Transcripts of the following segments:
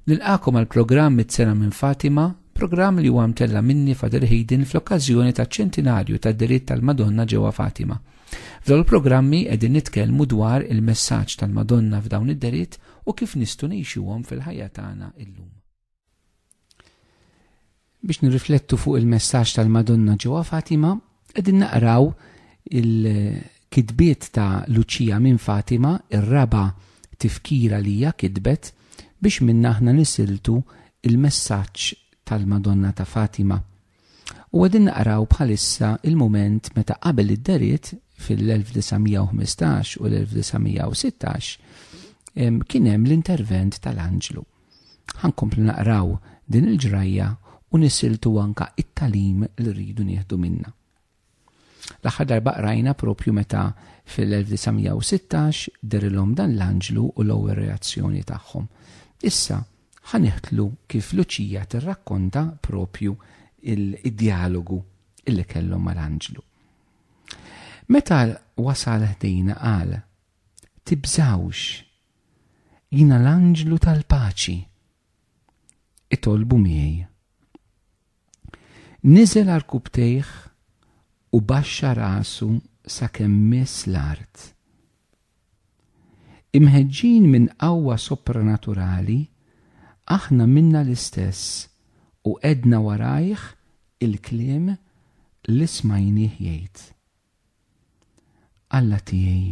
Nilqakom għal programm mit-sena minn Fatima, programm li huwa mtella minni Fader Hayden fl-okkażjoni ta' ċentinarju ta' diritt tal-Madonna ġewwa Fatima. F'dawn il-programmi qegħdin nitkellmu dwar il-messaġġ tal-Madonna f'dawn id-deritt u kif nistgħu ngħixuhom fil-ħajja tagħna illum. Biex nirriflettu fuq il-messaġġ tal-Madonna ġewwa Fatima, qegħdin naqraw il-kitbiet ta' Luċija minn Fatima, ir-raba' tifkira li hija kitbet biex minna aħna nisiltu il-messaġġ tal-Madonna ta' Fatima. U qegħdin naqraw bħalissa il-mument meta qabel id-deriet fil-1915 u l-1916 kien hemm l-intervent tal-anġlu. Ħankomplu naqraw din il-ġrajja u nisiltu anka it-talim li rridu nieħdu minna. L-aħħar darba qrajna propju meta fil-1916 derilhom dan l-anġlu u l-ewwel reazzjoni tagħhom. Issa ħa niħtlu kif Luċija tirrakkonta propju id-djalogu illi kellhom mal-anġlu. Meta wasal ħdejna qal, tibżawx, jina l-anġlu tal-paċi, itolbu miegħi. Niżel għarkupptejh u baxxa rasu sakemm miss l-art. Imħeġġin minn qawwa sopranaturali, aħna minna l-istess u għedna warajh il-kliem li smajnieh jgħid, Alla tiegħi!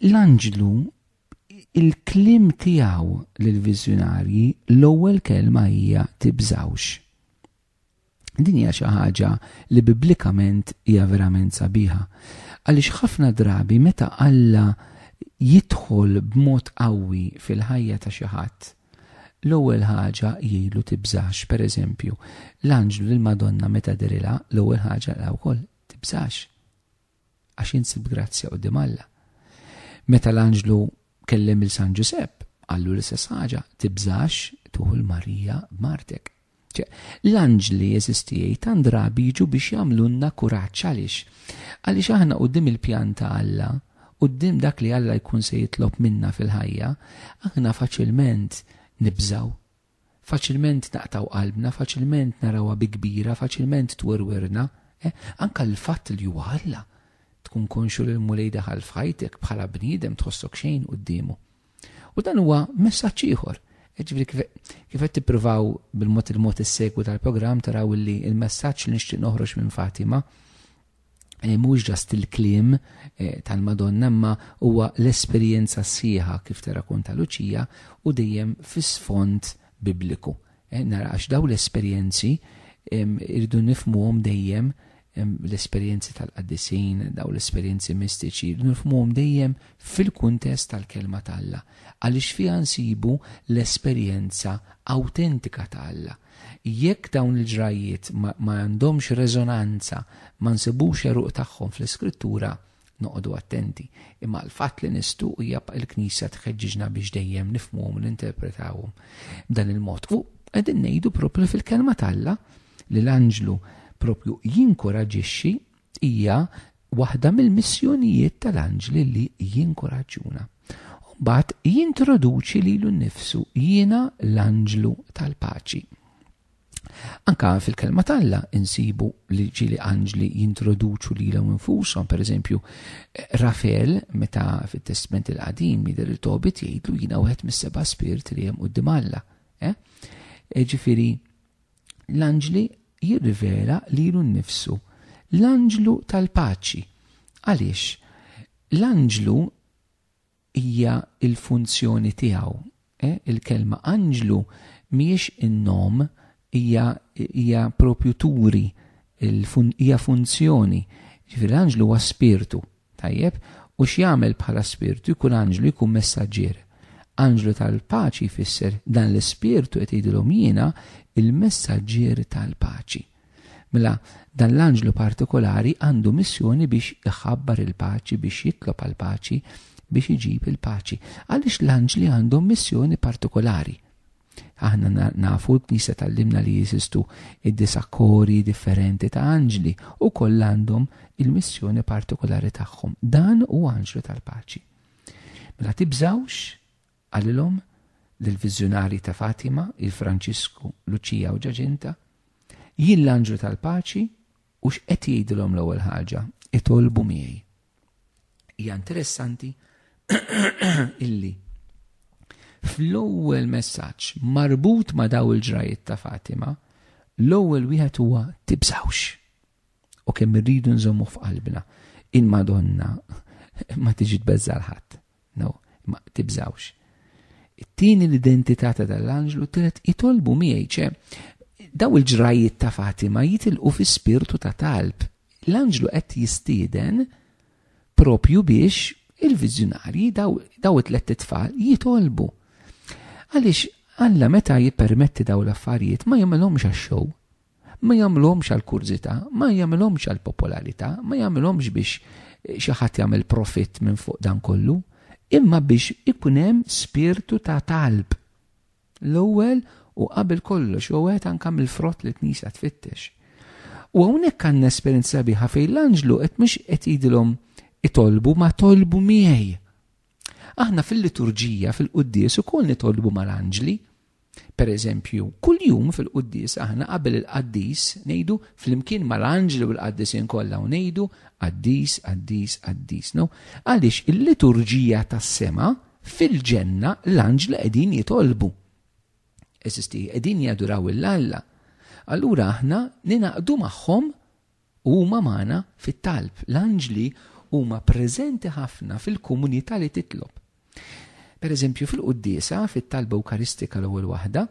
L-anġlu il-klim tiegħu lill-viżjonarji l-ewwel kelma hija tibżawx. Din hija xi ħaġa li biblikament hija verament sabiħa. Għaliex ħafna drabi meta Alla jidħol b'mod qawwi fil-ħajja ta' xi ħadd, l-ewwel ħaġa jgħidlu tibżax, pereżempju, l-anġlu lill-Madonna meta derilha l-ewwel ħaġa lha wkoll tibżax. għax int sibt grazzja quddiem Alla. Meta l-anġlu kellem il San Ġusepp, qallu l-istess ħaġa, tibżax tuħu l-Marija b'martek. L-anġli jeżistijaj tan drabi jiġu biex jagħmlunna kuraġġ għaliex. Għaliex aħna qudiem il-pjan ta' Alla, qudiem dak li Alla jkun se jitlob minna fil-ħajja, aħna faċilment nibżaw. Faċilment naqtgħu qalbna, faċilment narawha bi kbira, faċilment twirwirna. Eh, anke l-fatt li huwa Alla, tkun konxu li l-Mulej daħal f'ħajtek bħala bniedem tħossok xejn quddiemu. U dan huwa messaġġ ieħor. Eh, ġifieri kif qed tippruvaw bil-mod il-mod is-segwu tal-programm taraw li l-messaġġ li nixtieq noħroġ minn Fatima eh, mhux ġast il-kliem eh, tal-Madonna imma huwa l-esperjenza sħiħa kif terrakonta Luċija u dejjem fis-sfond bibliku. Eh, nara għax daw l-esperjenzi irridu nifmuhom dejjem l-esperjenzi tal-qaddisin, daw l-esperjenzi mistiċi, nifmuhom dejjem fil-kuntest tal-kelma tal-Alla. Għaliex fiha nsibu l-esperjenza autentika tal-Alla, Jekk dawn il-ġrajjiet ma għandhomx reżonanza, ma nsibux għeruq tagħhom fl-Iskrittura, noqogħdu attenti. Imma l-fatt li nistgħu hija l-Knisja tħeġġiġna biex dejjem nifhmuhom u ninterpretawhom b'dan il-mod. U qegħdin ngħidu proprju fil-Kelma t'Alla li l-anġlu proprju jinkuraġġixxi Hija waħda mill-missjonijiet tal-anġli li jinkuraġġuna. U mbagħad jintroduċi lilu nnifsu, Jiena l-anġlu tal-paċi. Anka fil-kelma t'Alla insibu li ġili anġli jintroduċu lilhom infushom, pereżempju Rafel meta fit-Testment il-Qadim jidher li Tobit jgħidlu jiena wieħed mis-seba' spirit li hemm quddiem Alla. Eh? E, ġifieri l-anġli jirrivela lilu nnifsu l-anġlu tal-paċi. Għaliex? L-anġlu hija il-funzjoni tiegħu. Eh? Il-kelma anġlu mhijiex in-nom hija hija propju turi hija funzjoni. Ġifieri l-anġlu huwa spirtu, Tajjeb, u x'jagħmel bħala spirtu jkun anġlu jkun messaġġier. Anġlu tal-paċi jfisser dan l-ispirtu qed jgħidilhom jiena l-messaġġier tal-paċi. Mela dan l-anġlu partikolari għandu missjoni biex iħabbar il-paċi, biex jitlob għal paċi, biex iġib il-paċi. Għaliex l-anġli għandhom missjoni partikolari? Aħna nafu l-Knisja tallimna li jeżistu id-disa' kori differenti ta' anġli u koll għandhom il-missjoni partikolari tagħhom. Dan u anġlu tal-paċi. Mela tibżawx għalilhom l-vizjonari ta' Fatima, il-Franċisku, Luċija u Ġaġinta, jien l-anġlu tal-paċi U x'qed jgħidilhom l-ewwel ħaġa? Itolbu miegħi. Hija interessanti illi fl-ewwel messaġġ marbut ma' daw il-ġrajiet ta' Fatima, l-ewwel wieħed huwa tibżawx. U kemm irridu nżommu f'qalbna, il-Madonna ma tiġi tbeżżal ħadd. No, ma tibżawx. It-tieni l-identità ta' dal-anġlu tret itolbu miegħi ċe daw il-ġrajiet ta' Fatima jitilqu fi spirtu ta' talb. L-anġlu qed jistieden propju biex il-viżjonarji daw, daw it-tlet tfal jitolbu. Għaliex Alla meta jippermetti daw l-affarijiet ma jagħmelhomx għax-xow, Ma jagħmluhomx għall-kurżità, ma jagħmilhomx għall-popolarità, ma jagħmilhomx biex xi ħadd jagħmel profitt minn fuq dan kollu, imma biex ikun hemm spirtu ta' talb. L-ewwel u qabel kollox huwa wieħed anke mill-frott li l-Knisja tfittex. U hawnhekk għandna esperjenza sabiħa fejn l-anġlu qed mhux qed jgħidilhom itolbu ma tolbu miegħi. Aħna fil-liturġija, fil-quddies ukoll nitolbu mal-anġli. Pereżempju, kuljum fil-quddies aħna qabel il-qaddis ngħidu flimkien mal-anġli u l-qaddisin kollha u ngħidu qaddis, qaddis, qaddis. No? Għaliex il-liturġija tas-sema fil-ġenna l-anġli qegħdin jitolbu. Eżisti, qegħdin jaduraw il-Alla. Allura aħna ninaqdu magħhom Huma magħna fit-talb. L-anġli huma preżenti ħafna fil-komunità li titlob. Pereżempju, fil-Quddiesa, fit-Talba Ewkaristika l-ewwel waħda,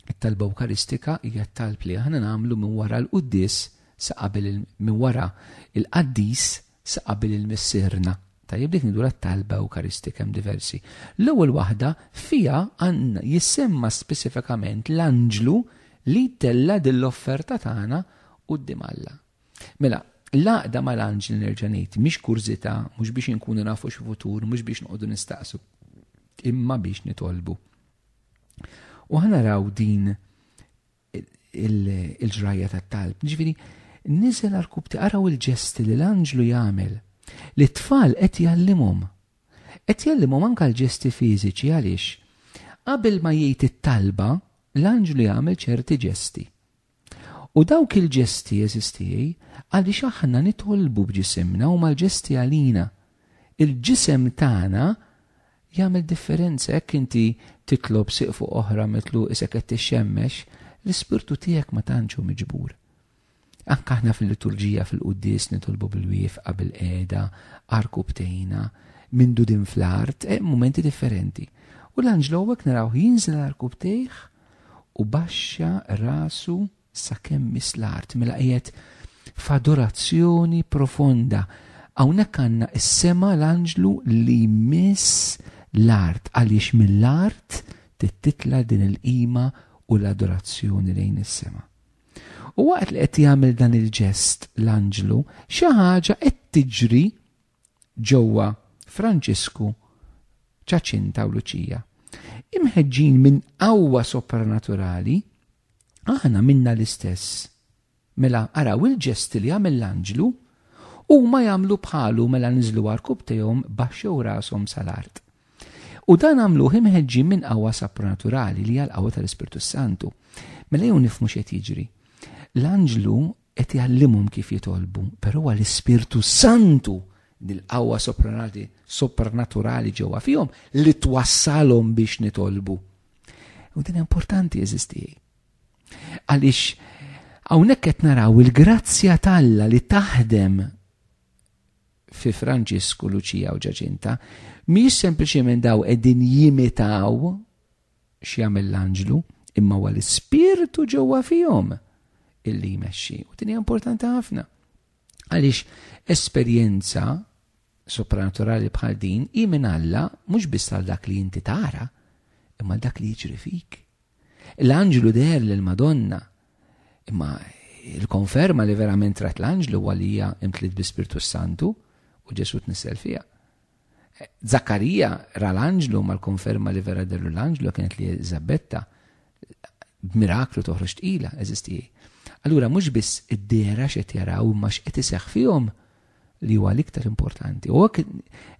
it-Talba Ewkaristika hija t-talb li aħna nagħmlu minn wara l-Quddies sa qabel minn wara l-Qaddis Sa qabel il-Missierna. Tajjeb dik ngħidulha t-talba Ewkaristika hemm diversi. L-ewwel waħda fiha għandna jissemma speċifikament l-anġlu li jtella' din l-offerta tagħna quddiem Alla. Mela, l-għaqda mal-anġli nerġa' ngħid mhix kurżità, mhux biex inkunu nafu xi futur, mhux biex noqogħdu nistaqsu, imma biex nitolbu. U ħana raw din il-ġrajja tat-talb. Ġifieri, niżel għal kubti araw il-ġesti li l-anġlu jagħmel li t-tfal qed jgħallimhom. Qed jgħallimhom anke l-ġesti fiżiċi għaliex qabel ma jgħid it-talba l-anġlu jagħmel ċerti ġesti. U dawk il-ġesti jeżistijaj għaliex aħna nitolbu b'ġisimna u mal-ġesti għalina Il-ġisem tagħna jagħmel differenza jekk inti titlob sieqfu oħra mitlu isek qed tixxemmex, l-ispirtu tiegħek ma tantx hu miġbur. Anke aħna fil-liturġija fil-quddies nitolbu bil-wiefqa bil-qiegħda, arku btejna, mindu din fl-art, hemm mumenti differenti. U l-anġlu hawnhekk narawh jinżel arku btejh u baxxa rasu Sakemm miss l-art mela qiegħed f'adorazzjoni profonda. Hawnhekk għandna s-sema l-anġlu li jmiss l-art għaliex mill-art trid titla' din il-qima u l-adorazzjoni lejn is-sema. U waqt li qed jagħmel dan il-ġest l-anġlu, xi ħaġa qed tiġri ġewwa Franġisku, Ċaċinta u Luċija. Imħeġġin minn qawwa sopranaturali, aħna għamilna l-istess. Mela araw il-ġesti li għamel l-anġlu, huma jagħmlu bħalu mela niżlu għarkubtejhom baxxew rashom sal-art. U dan għamluh imħeġġin minn qawwa sopranaturali li għal qawwa tal-Ispirtu Santu. Mela jew nifmu x'qed jiġri. L-anġlu qed jgħallimhom kif jitolbu, però huwa l-Ispirtu s-Santu, dil-qawwa sopranaturali ġewwa fihom li twassalhom biex nitolbu. U din importanti eżistijaj. Għaliex hawnhekk qed naraw il-grazzja talla li taħdem fi Franġisku, Luċija u Ġaġinta, mhijiex sempliċement daw qegħdin jimitaw x'jagħmel l-anġlu, imma huwa l-ispirtu ġewwa fihom illi jmexxi. U din hija importanti ħafna. Għaliex esperjenza supranaturali bħal din hi minn Alla mhux biss għal dak li inti tara, imma dak li jiġri fik. L-anġlu der lil Madonna, imma il-konferma li verament rat l-anġlu huwa li hija imtliet bi Spirtu Santu u Ġesu tnissel fiha. Zakkarija ra l-anġlu mal-konferma li vera derlu l-anġlu kienet li Eżabetta b'miraklu toħroġ tqila, eżis tiegħi. Allura mhux biss id-dera x'qed jaraw imma x'qed iseħħ fihom li huwa l-iktar importanti. U hekk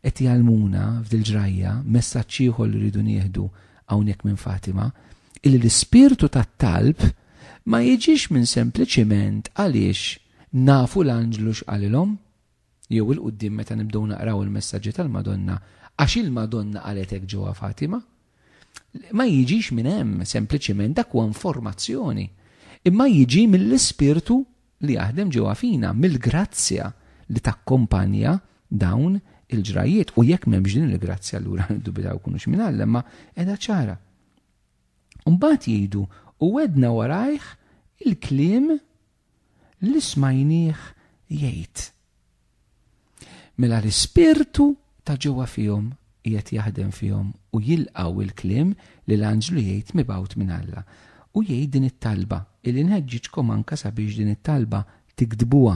qed jgħalmuna f'dil-ġrajja messaġġ ieħor li rridu nieħdu hawnhekk minn Fatima, illi l-ispirtu tat-talb ma jiġix minn sempliċiment għaliex nafu l-anġlu x'qalilhom, jew 'il quddiem meta nibdew naqraw il-messaġġi tal-Madonna għax il-Madonna qalet hekk ġewwa Fatima. Ma jiġix minn hemm sempliċiment dak huwa informazzjoni. Imma jiġi mill-Ispirtu li jaħdem ġewwa fina, mill-grazzja li takkompanja dawn il-ġrajjiet u jekk m'hemmx din il-grazzja allura niddubitaw kunux minn Alla ma qiegħda ċara. Mbagħad jgħidu u wedna warajh il-kliem li smajnieh jgħid. Mela l-Ispirtu ta' ġewwa fihom qiegħed jaħdem fihom u jilqgħu l-kliem li l-anġlu jgħid mibgħut minn Alla. U jgħid din it-talba, illi nħeġġiġkom anke sabiex din it-talba tiktbuha.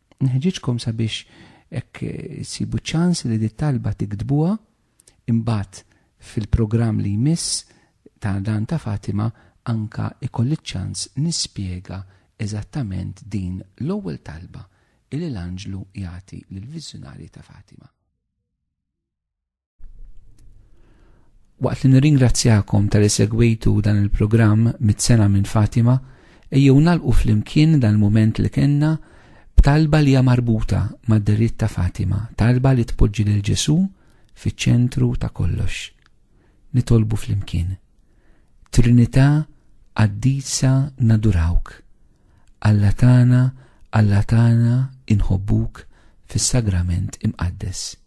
Nħeġġiġkom sabiex hekk issibu ċans li dit talba tiktbuha imbagħad fil-programm li jmiss ta' dan ta' Fatima anka ikolli ċ-ċans nispjega eżattament din l-ewwel talba illi l-anġlu jagħti lill-viżjonarji ta' Fatima. Waqt li nirringrazzjakom tal segwitu dan il-programm mit-sena minn Fatima, ejjew nalqu flimkien dan il-moment li kenna b'talba li hija marbuta mad-deritt ta' Fatima, talba li tpoġġi lil Ġesu fiċ-ċentru ta' kollox. Nitolbu flimkien. Trinità qaddisa nadurawk. Alla tagħna, Alla tagħna inħobbuk fis-sagrament imqaddes.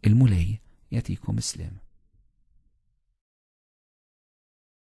Il-Mulej jagħtikom isliem.